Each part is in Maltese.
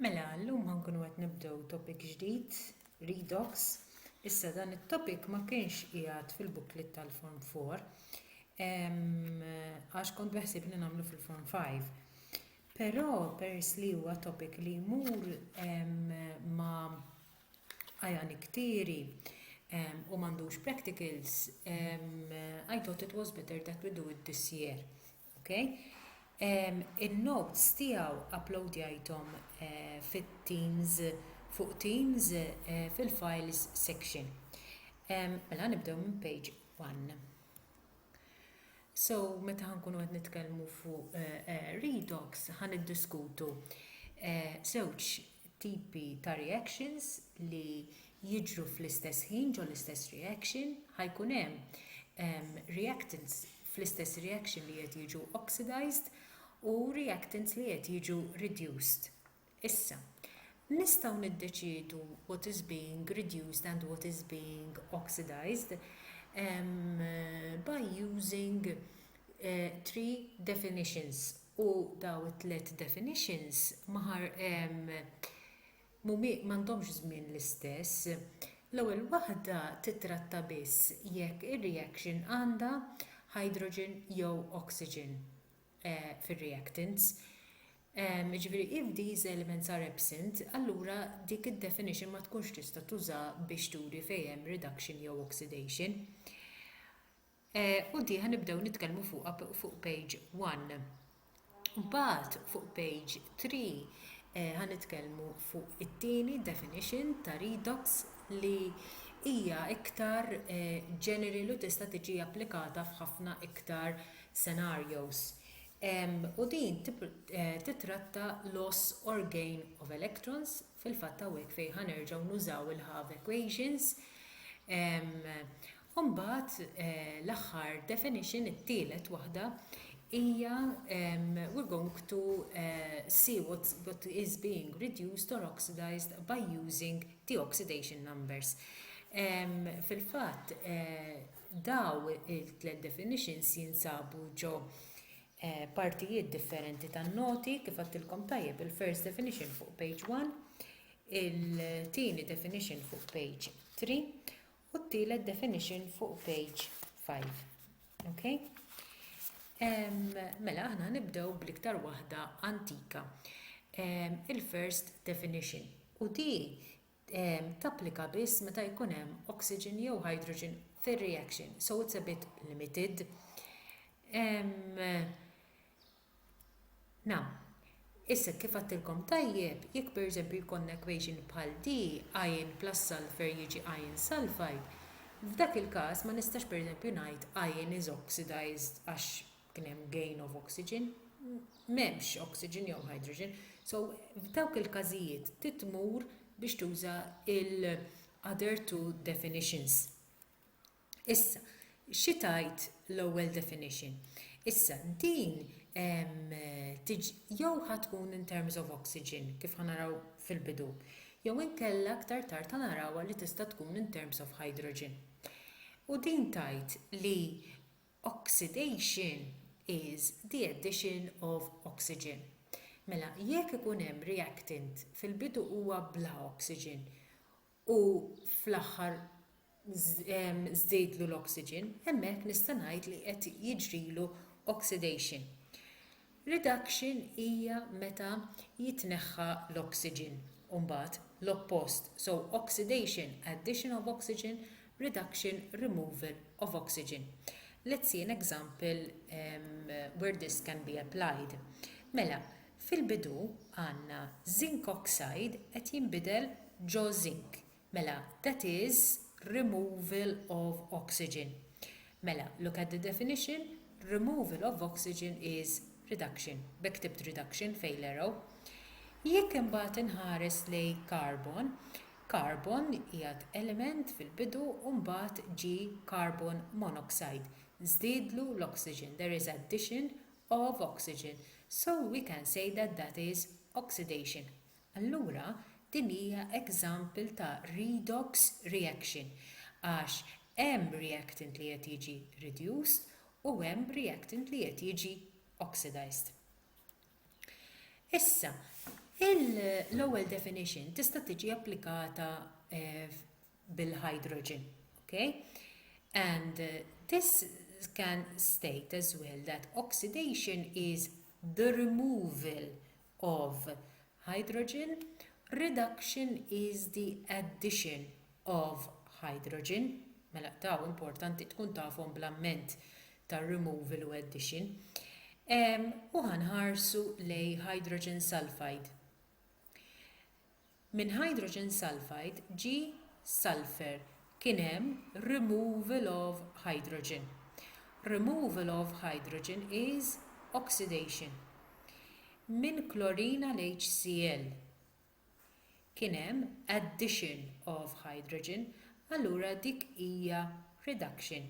Mela, llum ħankunu qed nibdew topic ġdid, redox. Issa dan it-topic ma kienx qiegħed fil-booklet tal-Form 4 għax kont beħsib li nagħmlu fil-Form 5. Però pers li huwa topic li jmur ma għajan iktieri u m'għandux practicals, I thought it was better that we do it this year. Ok. In-notes tiegħu uploadjajthom fit-Teams fuq Teams fil-Files section. Mela nibdew minn page one. So meta ħankunu qed nitkellmu fuq redox ħa niddiskutu żewġ tipi ta' reactions li jiġru fl-istess ħin ġol-istess reaction ħajkun hemm reactants fl-istess reaction li qed jiġu oxidized u reactants li qed jiġu reduced. Issa, nistgħu niddeċiedu what is being reduced and what is being oxidized by using three definitions u dawn it-tliet definitions ma mhumi m'għandhomx żmien l-istess. L-ewwel waħda tittratta biss jekk ir-reaction għandha hydrogen jew oxygen fir-reactants. Jiġifieri if these elements are absent, allura dik id-definition ma tkunx tista' tuża biex turi fejn hemm reduction jew oxidation. U di ħa nibdew nitkellmu fuqha fuq page one. Mbagħad fuq page three eh, ħa nitkellmu fuq it-tieni definition ta' redox li hija iktar eh, general u tista' tiġi applikata f'ħafna iktar scenarios. U din eh, titratta loss or gain of electrons, fil-fatt hawnhekk fejn ħa nerġgħu nużaw il-Hove equations. U mbagħad l-aħħar definition, it-tielet waħda, hija we are going to see what is being reduced or oxidised by using the oxidation numbers. Fil-fatt, dawn it-tliet definitions jinsabu ġo partijiet differenti tan-noti, kif għedtilkom tajjeb, il-first definition fuq page one, il-tieni definition fuq page three, u t-tielet definition fuq page 5. Okay? Um, mela aħna nibdew bl-iktar waħda antika. Um, Il-first definition. U di um, tapplika biss meta jkun hemm oxygen jew hydrogen fir-reaction, so it's a bit limited. Um, Na. Issa, kif għadtilkom tajjeb, jekk per eżempju jkollna equation bħal di, iron plus sulphur jiġi iron sulphide, f'dak il-każ ma nistax per eżempju ngħid iron is oxidized għax kien hemm gain of oxygen. M'hemmx oxygen jew hydrogen. So, f'dawk il-każijiet trid tmur biex tuża l-other two definitions. Issa, xi tgħid l-ewwel definition? Issa, din jew ħa tkun in terms of oxygen, kif ħa naraw fil-bidu, jew inkella aktar tard ħa narawha li tista' tkun in terms of hydrogen. U din tgħid li oxidation is the addition of oxygen. Mela, jekk ikun hemm reactant, fil-bidu huwa bla oxygen, u fl-aħħar żdidlu l-oxygen, hemmhekk nista' ngħid li qed jiġrilu oxidation. Reduction hija meta jitneħħa l-oxygen u mbagħad l-oppost, so oxidation, addition of oxygen, reduction, removal of oxygen. Let's see an example where this can be applied. Mela, Fil-bidu għandna zinc oxide qed jinbidel ġo zinc, mela that is removal of oxygen. Mela look at the definition, removal of oxygen is reduction, b'hekk ktibt reduction fejn l-arrow. Jekk imbagħad inħares lejn carbon, carbon qiegħed element fil-bidu u mbagħad ġie carbon monoxide, żdiedlu l-oxygen, there is addition of oxygen, so we can say that that is oxidation. Allura din hija example ta' redox reaction għax hemm reactant li qed jiġi reduced u hemm reactant li qed jiġi oxidized. Issa, l-ewwel definition tista' tiġi applikata bil-hydrogen. Okay? And uh, this can state as well that oxidation is the removal of hydrogen, reduction is the addition of hydrogen. Mela daw importanti tkun tafhom bl-amment ta' removal u addition. Um, u ħanħarsu lej hydrogen sulfide. Minn hydrogen sulfide ġie sulphur, kien hemm removal of hydrogen. Removal of hydrogen is oxidation. Minn klorin għal HCl kien hemm addition of hydrogen, allura dik hija reduction.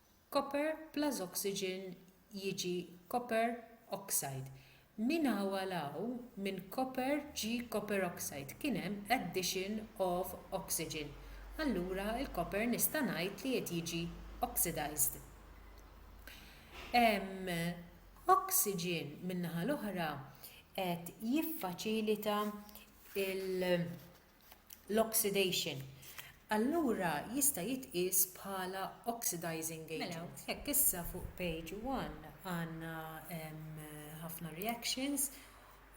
Copper plus oxygen jiġi copper oxide. Minn hawn għal hawn, minn copper ġie copper oxide, kien hemm addition of oxygen. Allura l-copper nista' ngħid li qed jiġi oxidized. Hemm oxygen min-naħa l-oħra qed jiffaċilita l-oxidation, allura jista' jitqies bħala oxidizing agent. Mela, hekk issa fuq page one għandna ħafna reactions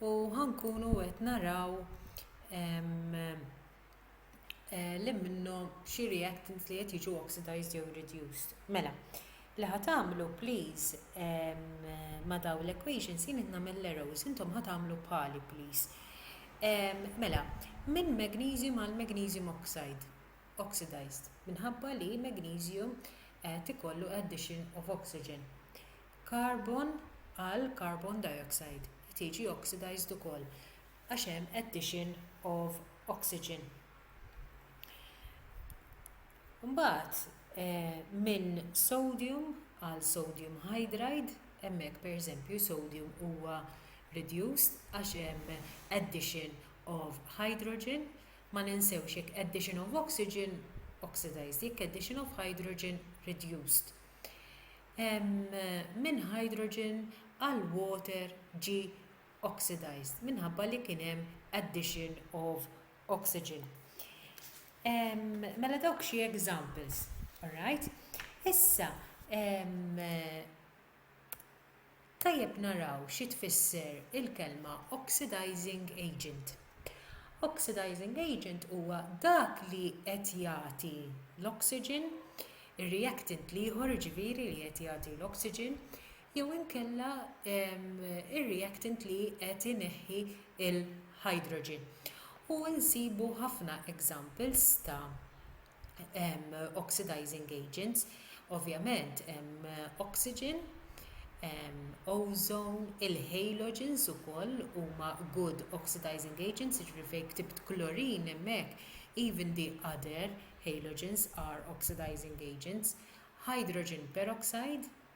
u ħankunu qed naraw li minnhom xi reactants li qed jiġu oxidized jew reduced. Mela, Li ħa tagħmlu please ma dawn l equations jien qed nagħmel l arrows intom ħa tagħmlu bħali please mela minn magnesium għal magnesium oxide oxidized minħabba li magnesium qed ikollu addition of oxygen carbon għal carbon dioxide qed jiġi oxidized ukoll għax hemm addition of oxygen. Mbagħad minn sodium għal sodium hydride, hemmhekk pereżempju sodium huwa reduced għax hemm addition of hydrogen, ma ninsewx jekk addition of oxygen, oxidized, jekk addition of hydrogen, reduced. Minn hydrogen għal water ġie oxidized minħabba li kien hemm addition of oxygen. Ehm, mela dawk xi examples, alright? Issa, ehm, tajjeb naraw xi tfisser il-kelma oxidizing agent. Oxidizing agent huwa dak li qed jagħti l-oxygen, ir-reactant li ieħor ġifieri li qed jagħti l-oxygen, jew inkella ir-reactant li qed ineħħi l-hydrogen. U nsibu ħafna examples ta' oxidizing agents, ovvjament hemm oxygen, ozone, il-halogens ukoll huma good oxidizing agents, jiġifieri fejn ktibt klorin hemmhekk even the other halogens are oxidizing agents, hydrogen peroxide,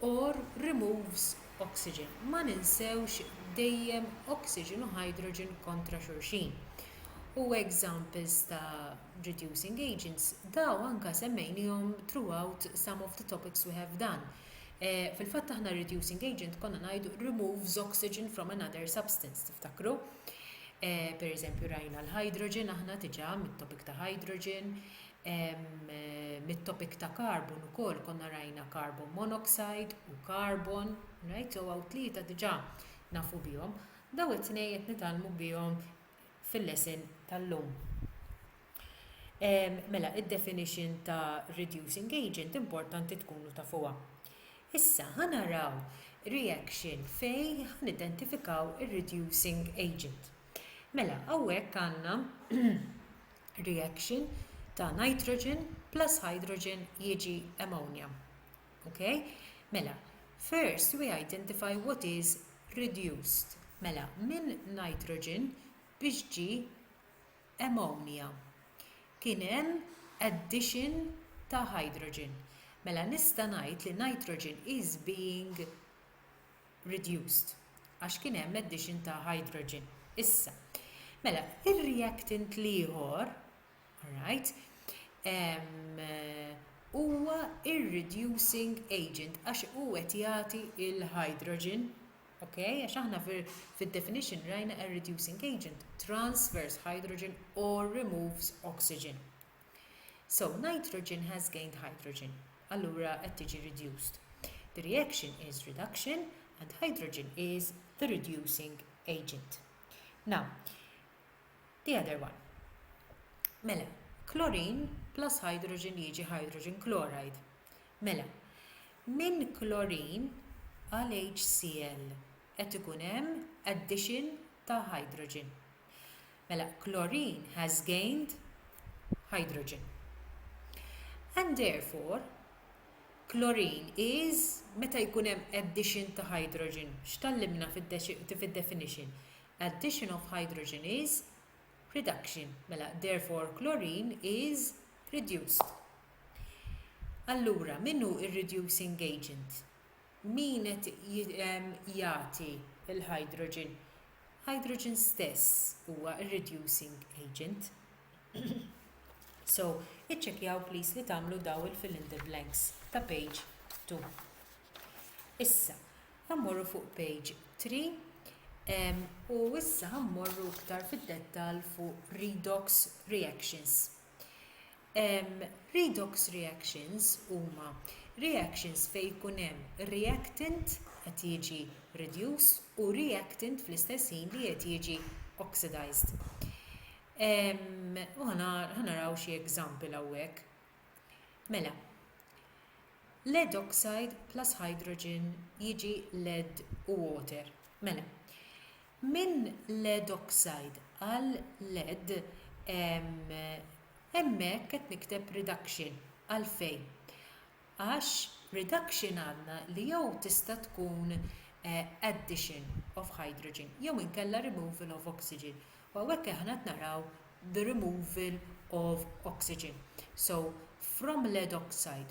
or removes oxygen ma ninsewx dejjem oxygen u hydrogen kontra xulxin u examples ta' reducing agents dawn anka semmejnihom throughout some of the topics we have done fil-fatt aħna reducing agent konna ngħidu removes oxygen from another substance tiftakru pereżempju rajna l-hydrogen aħna diġa mit-topic ta' hydrogen mit-topic ta' carbon ukoll konna rajna carbon monoxide u carbon, right? So għaw tlieta diġà nafu bihom. Daw it-tnej qed nitalmu bihom fil-lesson tal-lum. Mela, id-definition ta' reducing agent importanti tkunu ta' fuqa. Issa, ħanaraw reaction fej ħanidentifikaw il-reducing agent. Mela, għawek għanna reaction ta' nitrogen plus hydrogen jiġi ammonia. Okay? Mela, first we identify what is reduced. Mela, minn nitrogen biex ġi ammonia. Kien hemm addition ta' hydrogen. Mela nista' ngħid li nitrogen is being reduced għax kien hemm addition ta' hydrogen. Issa, mela, ir-reactant l-ieħor, right, huwa ir-reducing agent għax hu qed jagħti l-hydrogen, okay, għax aħna fid-definition rajna a reducing agent transfers hydrogen or removes oxygen. So nitrogen has gained hydrogen, allura qed tiġi reduced. The reaction is reduction and hydrogen is the reducing agent. Now, the other one. Mela, chlorine plus hydrogen jiġi hydrogen chloride. Mela, minn chlorine għal HCl qed ikun hemm addition ta' hydrogen. Mela, chlorine has gained hydrogen. And therefore, chlorine is, meta jkun hemm addition ta' hydrogen, x'tallimna fid-definition? Addition of hydrogen is reduction. Mela, therefore chlorine is reduced. Allura, min hu r-reducing agent? Min qed jagħti l-hydrogen? Hydrogen stess huwa r-reducing agent. So, iċċekkjaw please li tagħmlu daw il-fill in the blanks ta' page 2. Issa, ħammorru fuq page 3 u issa ħammorru iktar fid-dettall fuq redox reactions. Redox reactions huma reactions fejn ikun hemm reactant qed jiġi reduced u reactant fl-istess ħin li qed jiġi oxidized. U ħa naraw xi example hawnhekk. Mela, lead oxide plus hydrogen jiġi lead u water. Mela, Minn lead oxide għal lead hemmhekk qed nikteb reduction. Għalfejn? Għax reduction għandna li jew tista' tkun addition of hydrogen jew inkella removal of oxygen u hawnhekk aħna qed naraw the removal of oxygen. So, from lead oxide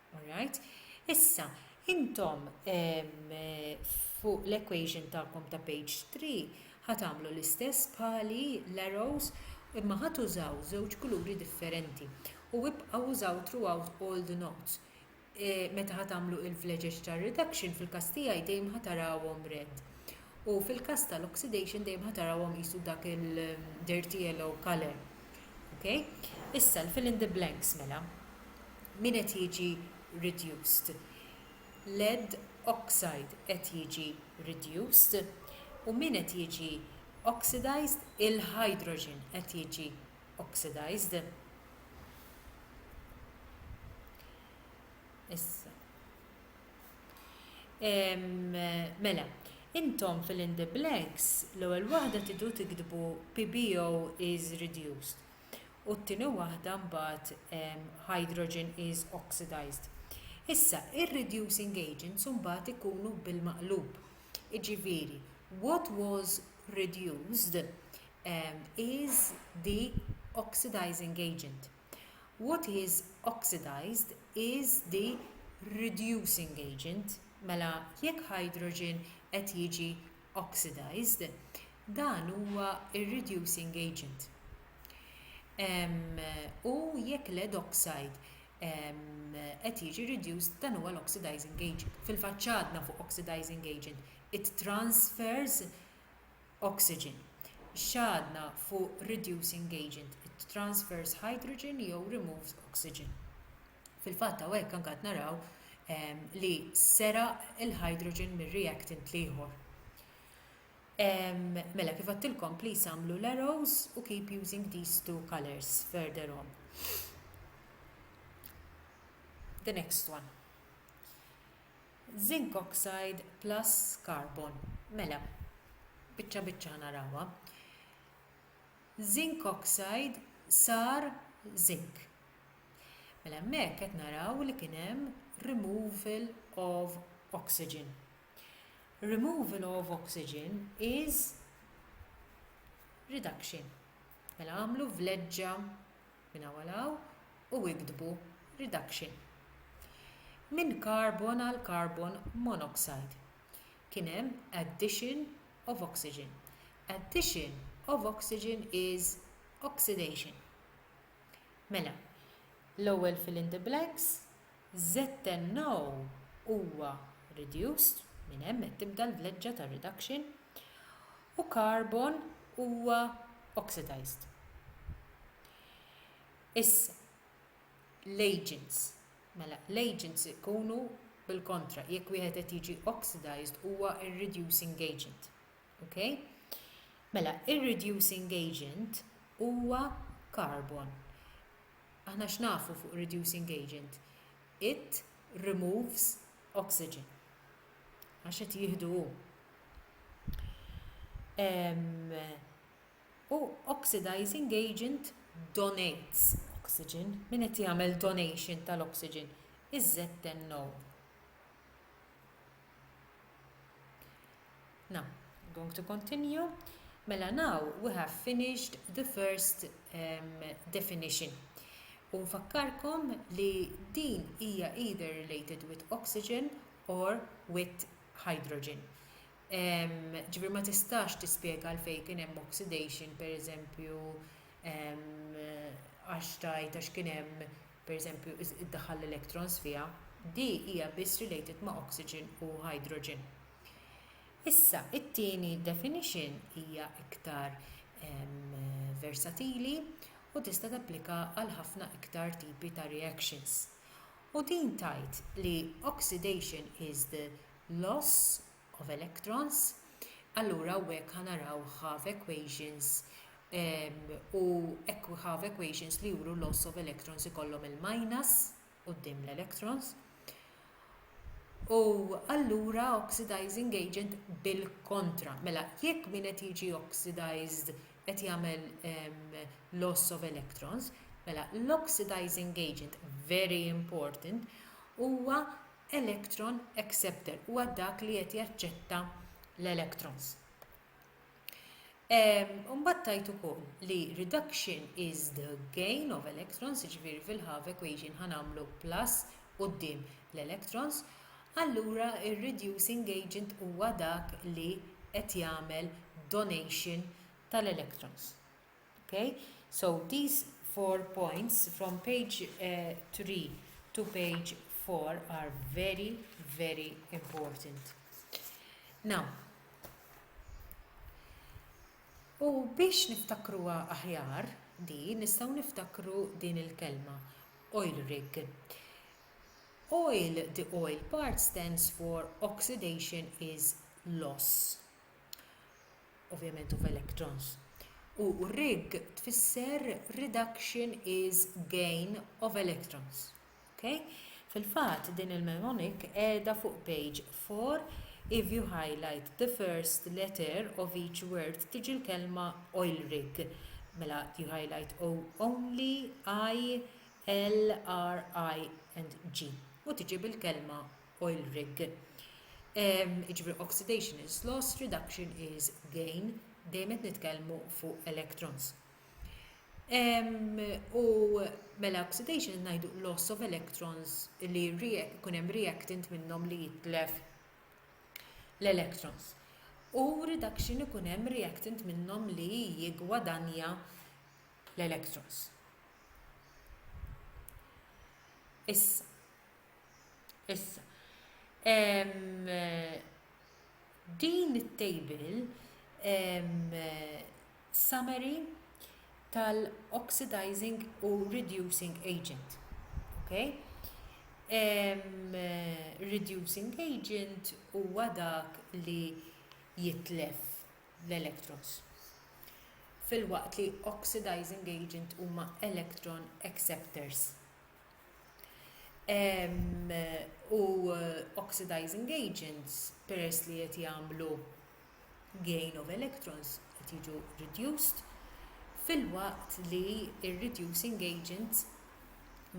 All right. Issa, intom fuq l-equation tagħkom ta' page 3 ħa tagħmlu l-istess bħali l-arrows imma ħa tużaw żewġ kuluri differenti u ibqgħu użaw throughout all the notes. E, meta ħa tagħmlu il-vleġeġ tar-reduction fil-każ tiegħi dejjem ħa tarawhom red. u fil-każ tal-oxidation dejjem ħa tarawhom qisu dak il-dirty yellow colour. Okay? Issa l-fill in the blanks mela. Min qed jiġi reduced? Lead oxide qed jiġi reduced u min qed jiġi oxidized il-hydrogen qed jiġi oxidized. Issa Mela, intom fill in the blanks, l-ewwel waħda tridu tiktbu PBO is reduced u t-tieni waħda mbagħad hydrogen is oxidised. Issa, ir-reducing agents mbagħad ikunu bil-maqlub, jiġifieri what was reduced is the oxidising agent. What is oxidised is the reducing agent, mela jekk hydrogen qed jiġi oxidised, dan huwa r-reducing agent. U jekk lead oxide qed jiġi reduced, dan huwa l-oxidising agent. Fil-fatt x'għadna fuq oxidising agent? It transfers oxygen, x'għadna fuq reducing agent, transverse hydrogen jew removes oxygen. Fil-fatt hawnhekk anke qed naraw ehm, li seraq il-hydrogen mir-reactant l-ieħor. Ehm, mela kif għattilkom please għamlu l-arrows u keep using these two colors further on. The next one. Zinc oxide plus carbon, mela, biċċa biċċa ħa narawha. Zinc oxide sar zinc. Mela hemmhekk qed naraw li kien hemm removal of oxygen. Removal of oxygen is reduction. Mela għamlu vleġġa minn hawn għal hawn u iktbu reduction minn carbon għal carbon monoxide kien hemm addition of oxygen addition of oxygen is oxidation mela l-ewwel fill in the blanks ZnO huwa reduced minn hemm qed tibda l-vleġġa tar-reduction u carbon huwa oxidized. Issa, l-agents, mela l-agents ikunu bil-kontra, jekk wieħed qed jiġi oxidized huwa r-reducing agent. Okay? Mela, ir-reducing agent huwa carbon. Aħna x'nafu fuq reducing agent? It removes oxygen. għax qed jieħdu hu. U oxidizing agent donates oxygen, min qed jagħmel donation tal-oxygen, iż-ZNO. Now, I'm going to continue. Mela now we have finished the first um, definition. U nfakkarkom li din hija either related with oxygen or with hydrogen. Ġibir ma tistax tispjega għalfejn kien hemm oxidation, per eżempju, għax tajt għax kien hemm, per eżempju, id-daħal electrons fiha, di hija biss related ma' oxygen u hydrogen. Issa, it-tieni definition hija iktar versatili u tista' tapplika għal ħafna iktar tipi ta' reactions. U din tgħid li oxidation is the loss of electrons, allura hawnhekk ħa naraw Hove equations u Hove equations li juru loss of electrons ikollhom il-minus, quddiem l-electrons u allura oxidizing agent bil-kontra. Mela, jekk min qed jiġi oxidized qed jagħmel ehm, loss of electrons, mela l-oxidizing agent very important huwa electron acceptor, huwa dak li qed jaċċetta l-electrons. Imbagħad tajt ukoll li reduction is the gain of electrons, jiġifieri fil-half equation ħa nagħmlu plus quddiem l-electrons, allura ir-reducing agent huwa dak li qed jagħmel donation tal-electrons. Okay? So these four points from page uh, 3 to page 4 are very, very important. Now, u biex niftakruha aħjar di nistgħu niftakru din il-kelma oil rig. Oil, the oil part stands for oxidation is loss. ovvjament of electrons, u rig tfisser reduction is gain of electrons. Okay? Fil-fatt din il-mnemonic qiegħda fuq page 4 if you highlight the first letter of each word tiġi l-kelma oil rig. Mela you highlight O only I L R I and G u tiġi bil-kelma oil rig. Jiġifieri oxidation is loss, reduction is gain, dejjem qed nitkellmu fuq electrons. U mela oxidation ngħidu loss of electrons li jkun hemm reactant minnhom li jitlef l-electrons. U reduction ikun hemm reactant minnhom li jigwadanja l-electrons. Issa, Issa, din it-table summary tal-oxidizing u reducing agent. Okay? reducing agent huwa dak li jitlef l-electrons. Fil-waqt li oxidizing agent huma electron acceptors. u oxidizing agents peress li qed jagħmlu gain of electrons qed jiġu reduced filwaqt li r-reducing agent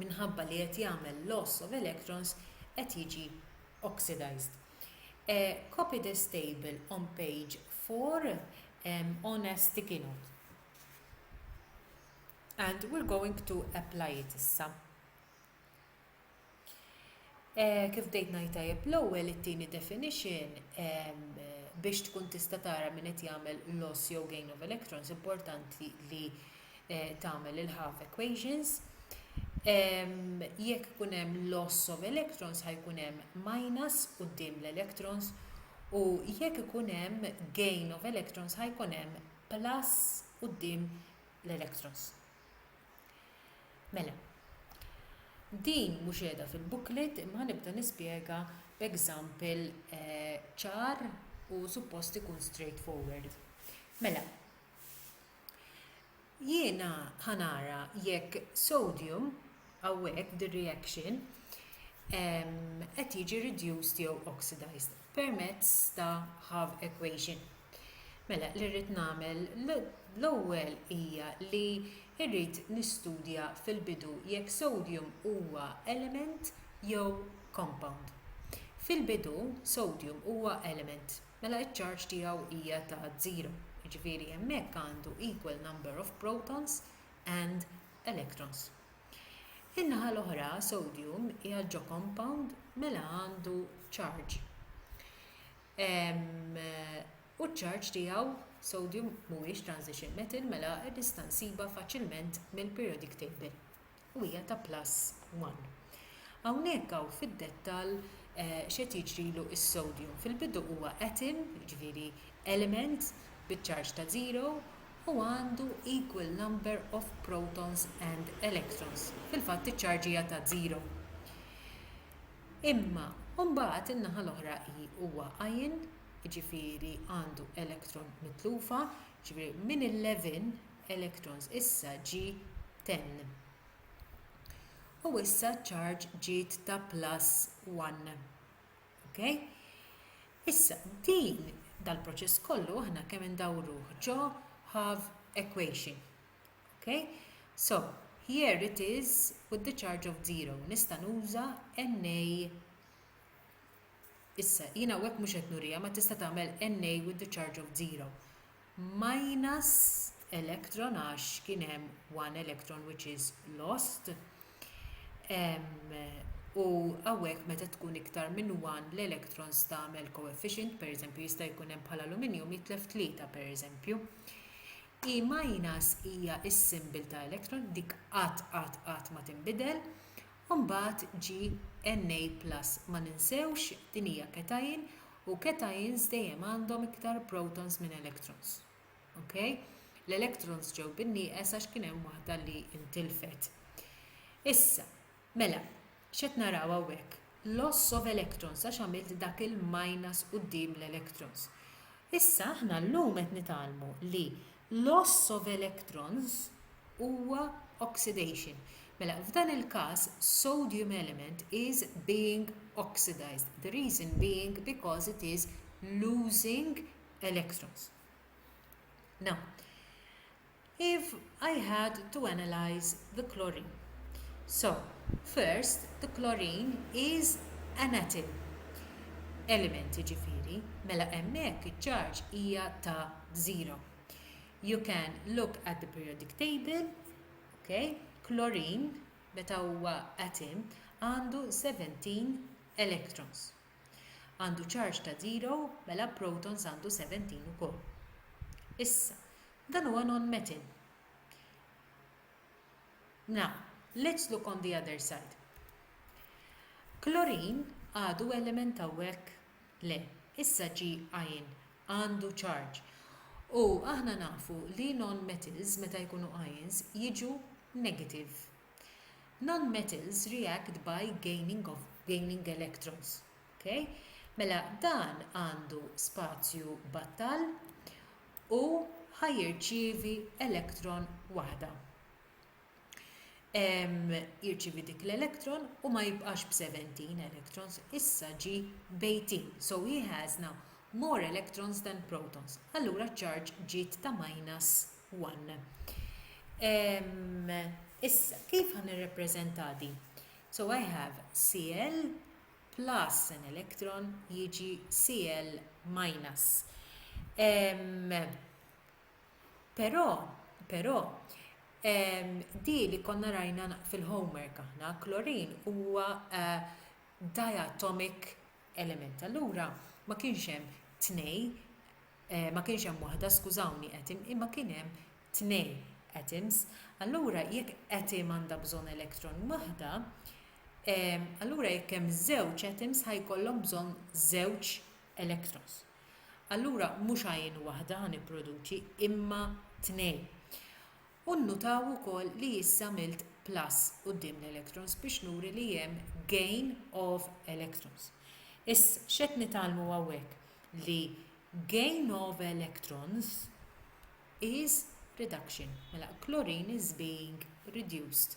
minħabba li qed jagħmel loss of electrons qed jiġi oxidized. Copy this table on page 4 on a sticky note. And we're going to apply it issa. Eh, kif bdejt ngħid tajjeb l-ewwel it-tieni definition biex tkun tista' tara min qed jagħmel loss jew gain of electrons importanti li eh, tagħmel il-half equations. Jekk ikun hemm loss of electrons ħajkun hemm minus quddiem l-electrons u jekk ikun hemm gain of electrons ħajkun hemm plus quddiem l-electros. Mela, din mhux qiegħda fil-booklet imma ħanibda nispjega b'example ċar u suppost ikun straight forward. Mela, jiena ħanara jekk sodium hawnhekk dir-reaction qed jiġi reduced jew oxidized. permezz ta' half equation. Mela li rrid nagħmel l-ewwel hija li rrid nistudja fil-bidu jekk sodium huwa element jew compound. Fil-bidu sodium huwa element, mela ċ-charge tiegħu hija ta' żero, jiġifieri hemmhekk għandu equal number of protons and electrons. In-naħa l-oħra sodium hija ġo compound mela għandu charge u ċ-charge tiegħu, sodium mhuwiex transition metal mela nista' nsibha faċilment mill-periodic table u hija ta' plus 1. Hawnhekk hawn fid-dettall x'qed jiġrilu s-sodium. Fil-bidu huwa atom, jiġifieri element biċ-charge ta' zero u għandu equal number of protons and electrons, fil-fatt iċ-ċarġija ta' żero. Imma mbagħad in-naħa l-oħra hi huwa ion, jiġifieri għandu electron mitlufa, jiġifieri minn 11 electrons issa ġie 10. U issa ċ-ċarġ ġiet ta' plus 1. Okay? Issa, din dal-proċess kollu aħna kemm indawruh ġo have equation. Okay? So, here it is with the charge of zero. Nista' nuża NA Issa, jina għek mux etnurija, ma tista tagħmel NA with the charge of zero. minus electron għax kien hemm one electron which is lost u hawnhekk meta tkun iktar minn one l-electrons tagħmel coefficient pereżempju jista' jkun hemm bħala aluminjum jitlef tlieta pereżempju. E minus hija s-simbol ta' electron dik qatt qatt qatt ma tinbidel u mbagħad ġi Na plus ma ninsewx din hija cation u cations dejjem għandhom iktar protons minn electrons. Ok? L-electrons ġew bin-nieqes għax kien hemm waħda li intilfet. Issa, mela, x'qed naraw hawnhekk? Loss of electrons għax għamilt dak il-minus quddiem l-electrons. Issa aħna llum qed nitgħallmu li Loss of electrons huwa oxidation. Mela, f'dan il-każ, sodium element is being oxidized, the reason being because it is losing electrons. Now, if I had to analyze the chlorine, so first the chlorine is an atom element ġifiri, mela hemmhekk iċ-charge hija ta' b'żero. You can look at the periodic table, okay? Klorin, meta huwa atom, għandu 17 electrons. Għandu charge ta' zero, mela protons għandu 17 ukoll. Issa, dan huwa non-metal. Now, let's look on the other side. Klorin għadu element hawnhekk le, issa ġi ion għandu charge. U aħna nafu li non-metals meta jkunu ions jiġu negative. Non-metals react by gaining of gaining electrons. Okay? Mela dan għandu spazju battal u ħajirċievi elektron waħda. jirċievi dik l-electron u ma jibqax b'seventeen electrons issa ġie b'eighteen so he has now more electrons than protons allura ċ-charge ġiet ta' minus one issa kif ħa nirrappreżentha di so i have cl plus an electron jiġi cl minus Però, però, ehm, di li konna rajna fil-homework aħna, klorin huwa eh, diatomic element. Allura ma kienx hemm tnej, eh, ma kienx hemm waħda, skużawni, atom, imma kien hemm tnej atoms. Allura jekk atom għandha bżonn elektron waħda, ehm, allura jekk hemm żewġ atoms ħajkollhom bżonn żewġ electrons. Allura mhux għajn waħda ħa nipproduċi imma tnejn. U nnutaw ukoll li issa għamilt plus quddiem l-electrons biex nuri li hemm gain of electrons. Issa, x'qed nitgħallmu hawnhekk? Li gain of electrons is reduction. Mela, klorin is being reduced.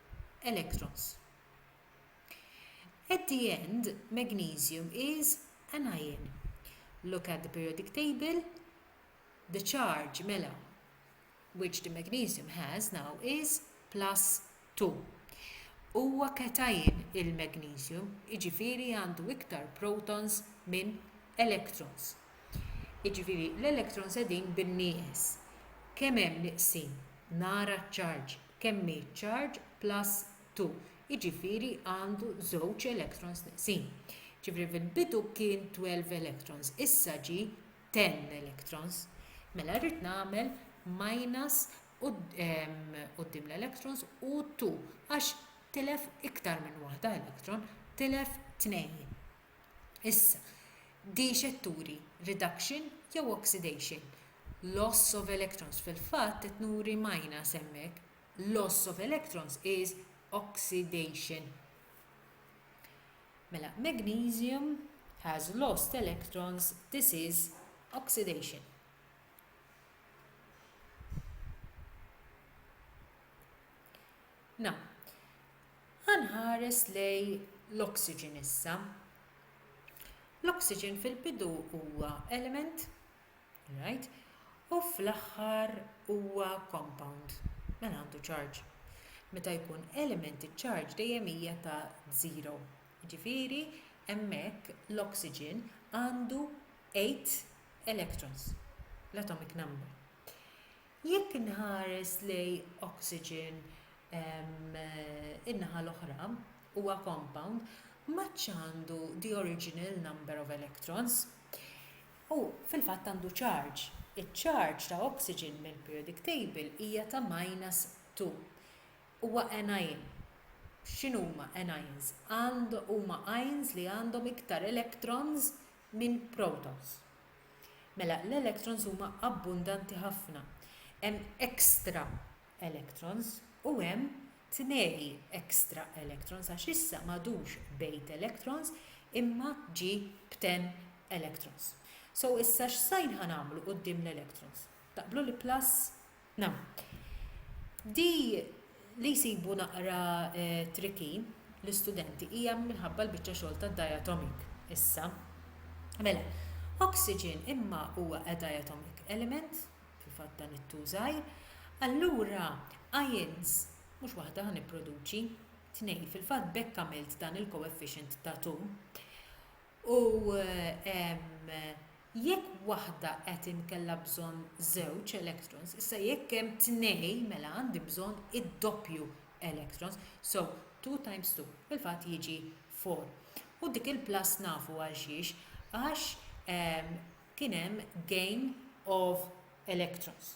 electrons. At the end, magnesium is an ion. Look at the periodic table. The charge, mela, which the magnesium has now is plus 2. Huwa cation il-magnesium, iġifiri għandu iktar protons minn electrons. Iġifiri l-electrons edin bin-nieqes. Kemm hemm niqsin? Nara ċ-charge. kemm hi charge plus 2, jiġifieri għandu żewġ electrons neqsin. Jiġifieri fil-bidu kien 12 electrons, issa ġie 10 electrons. Mela rrid nagħmel minus quddiem l-electrons u 2 għax tilef iktar minn waħda electron, tilef tnejn. Issa, di x'qed turi? Reduction jew oxidation? Loss of electrons, fil-fatt qed nuri minus hemmhekk. Loss of electrons is oxidation. Mela, magnesium has lost electrons, this is oxidation. Na. Ħa nħares lejn l-oxygen issa. L-oxygen fil-bidu huwa element, right? U fl-aħħar huwa compound, mela għandu charge. Meta jkun element iċ-charge dejjem hija ta' zero. Ġifieri hemmhekk l-oxygen għandu 8 electrons, l-atomic number. Jekk inħares lejn oxygen in-naħa l-oħra, huwa compound ma għadx għandu the original number of electrons. Hu fil-fatt għandu charge. Iċ-charge ta' oxygen mill-periodic table hija ta' minus 2. Huwa anion. X'inhuma anions? Huma ions li għandhom iktar electrons minn protons. Mela l-electrons huma abbundanti ħafna. Hemm extra electrons u hemm tnegi extra electrons għax issa m'għadux b'eight electrons imma ġie b'ten electrons. So issa x'sign ħa nagħmlu quddiem l-electrons? Taqblu li plus Na. Di li jsibu naqra tricky l-istudenti hija minħabba l-biċċa xogħol tad-diatomic issa. Mela, oxygen imma huwa a diatomic element, fil-fatt dan it-two żgħir, allura ions mhux waħda ħa nipproduċi, tnejn, fil-fatt b'hekk għamilt dan il-coefficient ta' two. U jekk waħda qed inkella bżonn żewġ electrons, issa jekk hemm tnejn mela għandi bżonn id-doppju electrons, so 2 times 2 fil-fatt jiġi 4. U dik il-plus nafu għal xiex, għax kien hemm gain of electrons.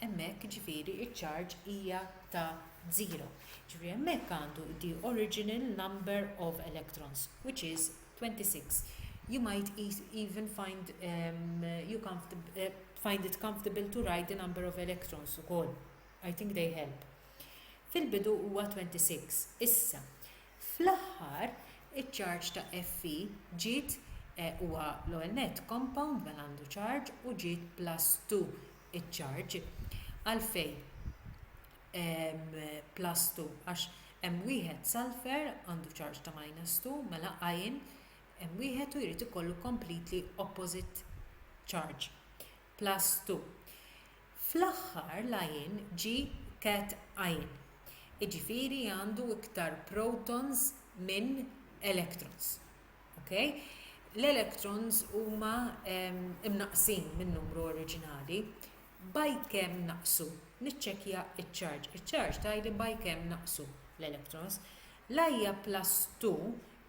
hemmhekk jiġifieri ċ-charge hija ta' żero, jiġifieri hemmhekk għandu the original number of electrons, which is 26, you might even find you find it comfortable to write the number of electrons ukoll, I think they help. Fil-bidu huwa 26. Issa, fl-aħħar, iċ-charge ta' Fe ġiet, huwa l-ewwel nett compound mela għandu charge, u ġiet plus 2 iċ-charge. Għalfejn hemm plus two? Għax hemm wieħed sulphur għandu charge ta' minus two, mela iron hemm wieħed u jrid ikollu completely opposite charge, plus two. Fl-aħħar l-iron ġie cat iron, jiġifieri għandu iktar protons minn electrons. Okay? L-electrons huma imnaqqsin min-numru oriġinali. By kemm naqsu? Niċċekkja ċ-charge. Iċ-charge tgħidli by kemm naqsu l-electrons. L-ajja plus 2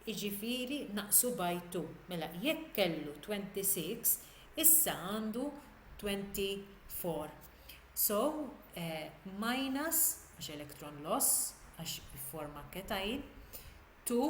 iġifieri naqsu by 2. Mela jekk kellu 26 issa għandu 24. So, eh, minus, għax electron loss, għax forma ketajn, 2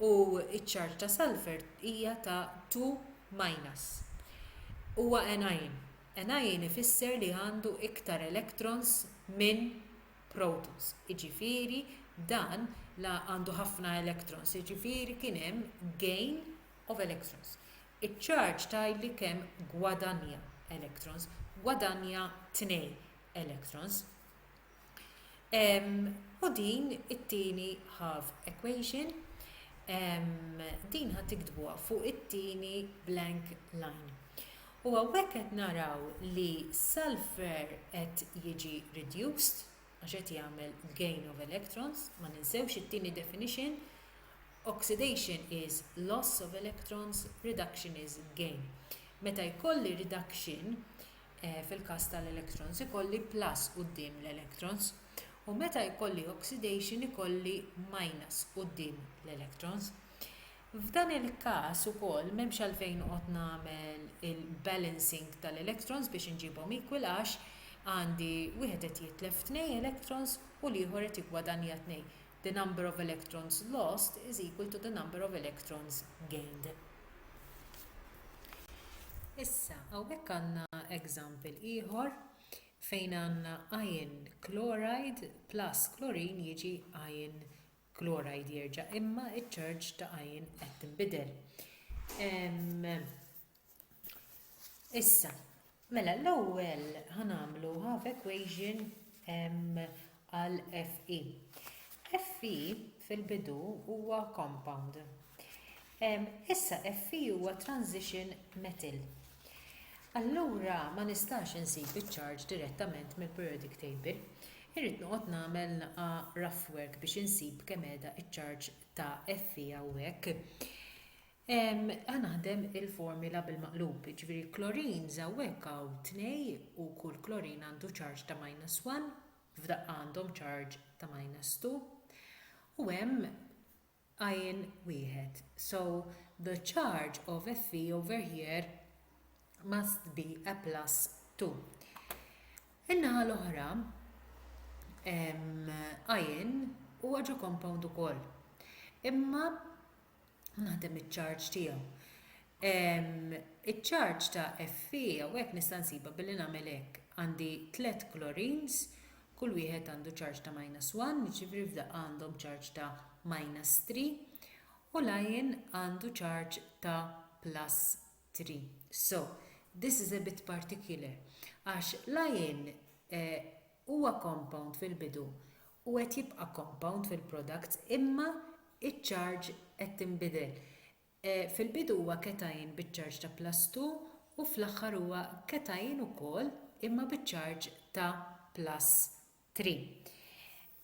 u ċ-charge ta' sulphur hija ta' 2-. Huwa anion. Anion ifisser li għandu iktar electrons minn protons, jiġifieri dan għandu ħafna electrons, jiġifieri kien hemm gain of electrons. Iċ-charge tgħidli kemm gwadanja electrons, gwadanja 2 electrons. U din it-tieni half equation, din ħa tiktbuha fuq it-tieni blank line. U għawek qed naraw li sulfur qed jiġi reduced, għax qed jagħmel gain of electrons, ma ninsewx it-tieni definition, oxidation is loss of electrons, reduction is gain. Meta jkolli reduction, fil-każ tal-electrons ikolli plus quddiem l-electrons u meta jkolli oxidation ikolli minus quddiem l-electrons. F'dan il-każ ukoll m'hemmx għalfejn noqgħod nagħmel il-balancing tal-electrons biex inġibhom equal għax għandi wieħed qed jitlef tnej electrons u l-ieħor qed jiggwadanja tnej. The number of electrons lost is equal to the number of electrons gained. Issa, hawnhekk għandna example ieħor fejn għandna iron chloride plus klorin jiġi iron chloride jerġa' imma ċ-charge ta' iron qed tinbidel. Issa, mela l-ewwel ħa nagħmlu half equation għal FE. FE fil-bidu huwa compound. Issa FE huwa transition metal. Allura ma nistax insib iċ-charge direttament mill-periodic table. Irrid noqgħod nagħmel naqa rough work biex insib kemm qiegħda iċ-charge ta' FE hawnhekk. Ħa naħdem il-formula bil-maqlub, jiġifieri chlorines hawnhekk hawn tnej u kull chlorine għandu charge ta' minus one, f'daqqa għandhom charge ta' minus two, u hemm ion wieħed, so the charge of Fe over here must be a plus two. In-naħa l-oħra ion huwa ġo compound ukoll, imma u naħdem iċ-charge tiegħu. Iċ-charge ta' Fe hawnhekk nista' nsibha billi nagħmel hekk. Għandi tliet chlorines, kull wieħed għandu charge ta' minus 1, jiġifieri f'daqqa għandhom charge ta' minus 3 u l-iron għandu charge ta' plus 3. So, this is a bit particular għax l-iron eh, Huwa compound fil-bidu u qed jibqa' compound fil-products imma ċ-charge qed tinbidel. Fil-bidu huwa cation biċ-charge ta' plus two u fl-aħħar huwa cation ukoll imma biċ-charge ta' plus three.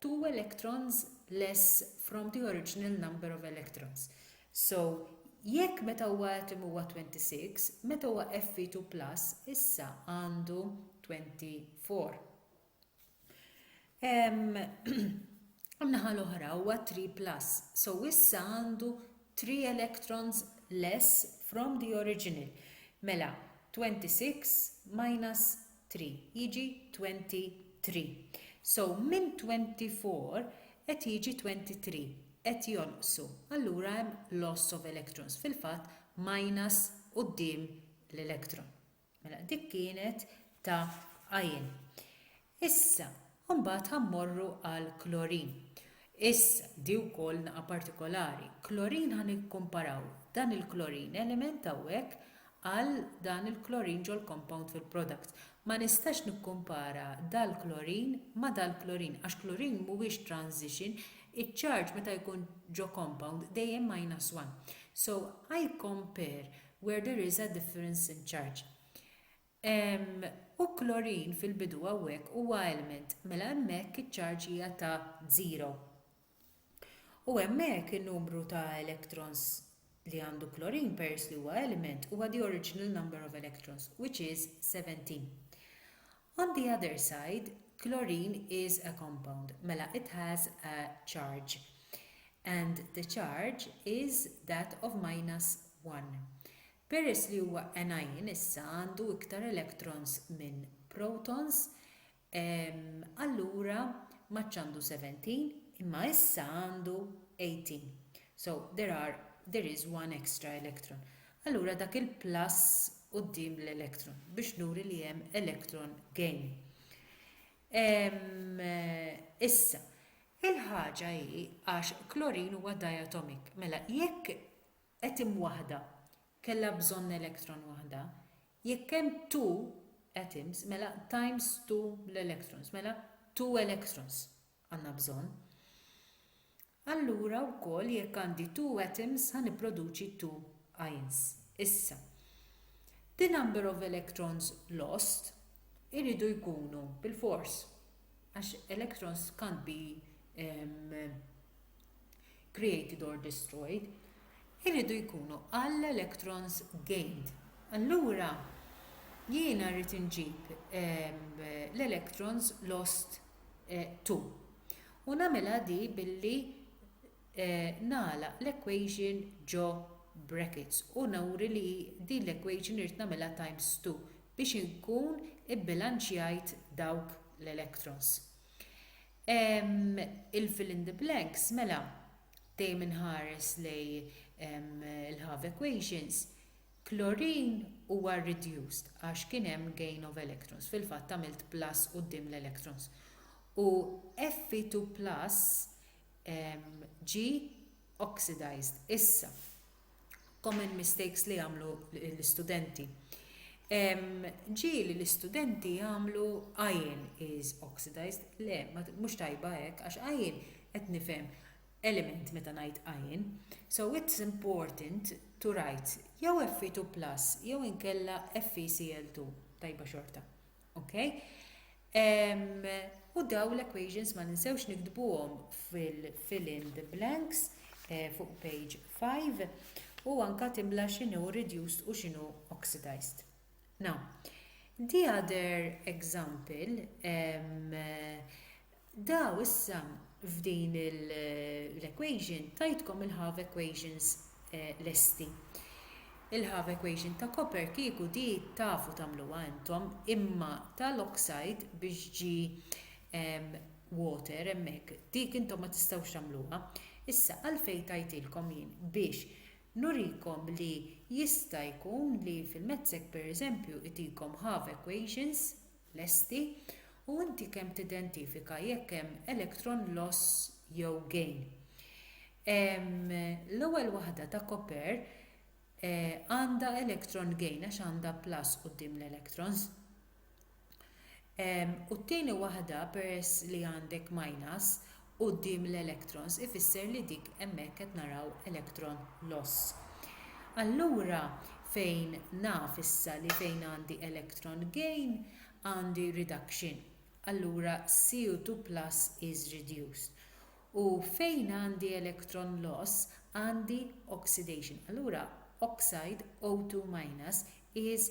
two electrons less from the original number of electrons. So, jekk meta huwa atom huwa 26, meta huwa Fe2 plus issa għandu 24. Għamnaħa l-oħra huwa 3 plus, so issa għandu 3 electrons less from the original. Mela, 26 minus three jiġi twenty three. So minn twenty four qed jiġi twenty three. Qed jonqsu. Allura hemm loss of electrons. Fil-fatt minus quddiem l-electron. Mela dik kienet ta' iron. Issa U mbagħad ħa mmorru għal klorin. Issa, di wkoll naqa' partikolari. Klorin ħa nikkumparaw dan il-klorin element hawnhekk għal dan il-klorin ġol-compound fil-product. Ma nistax nikkumpara dal-klorin ma' dal-klorin għax klorin mhuwiex transition, iċ-charge meta jkun ġo compound dejjem minus one. So, I compare where there is a difference in charge. U klorin fil-bidu hawnhekk huwa element, mela hemmhekk iċ-charge hija ta' żero. U hemmhekk in-numru ta' electrons li għandu klorin peress li huwa element huwa the original number of electrons, which is 17. On the other side, klorin is a compound, mela it has a charge, and the charge is that of minus 1. Peress li huwa anion issa għandu iktar electrons minn protons, allura m'għadx għandu 17 imma issa għandu 18. So, there are, there is one extra electron. Allura dak il-plus quddiem l-electron biex nuri li hemm electron gain. Issa, il-ħaġa hi għax klorin huwa diatomic, mela jekk Atom waħda kellha bżonn electron waħda, jekk hemm two atoms mela times two l-electrons, mela two electrons għandna bżonn. Allura wkoll jekk għandi two atoms ħa nipproduċi two ions. Issa, the number of electrons lost iridu jkunu bilfors għax electrons can't be created or destroyed, iridu jkunu għall-electrons gained. Allura, jiena rrid inġib l-electrons lost to. U nagħmilha di billi nagħlaq l-equation ġo brackets u nuri li din l-equation irrid nagħmilha times 2 biex inkun ibbilanċjajt dawk l-electrons. Ehm, il-fill in the blanks, mela, dejjem inħares lej ehm, il-half equations, klorin huwa reduced għax kien hemm gain of electrons, fil-fatt għamilt plus quddiem l-electrons. U Fe2 plus ehm, ġi oxidized. Issa, common mistakes li jagħmlu l-istudenti. Ġieli l-istudenti jagħmlu iron is oxidized, le, mhux tajba hekk, għax iron qed nifhem element meta ngħid iron. So it's important to write jew Fe2 plus jew inkella FeCl2 tajba xorta. Ok? U daw l-equations ma ninsewx nikdbuhom fil-fill-in the blanks eh, fuq page 5 u anka timla xinu reduced u xinu oxidized. Now, the other example, Daw issa f'din l-equation tajtkom il-half equations lesti. Il-half equation ta' copper kieku di tafu tagħmluha intom imma tal-oxide biex ġi water hemmhekk dik intom ma tistgħux tagħmluha. Issa għalfejn tajtilkom jien biex nurikom li jista' jkun li fil-mathsek pereżempju itikom half equations lesti u inti kemm tidentifika jekk hemm electron loss jew gain. L-ewwel waħda ta' copper għandha electron gain għax għandha plus quddiem l-electrons. U t-tieni waħda peress li għandek minus quddiem l-electrons ifisser li dik hemmhekk qed naraw electron loss. Allura fejn naf issa li fejn għandi electron gain għandi reduction allura CO2 plus is reduced u fejn għandi electron loss għandi oxidation allura oxide O2 minus is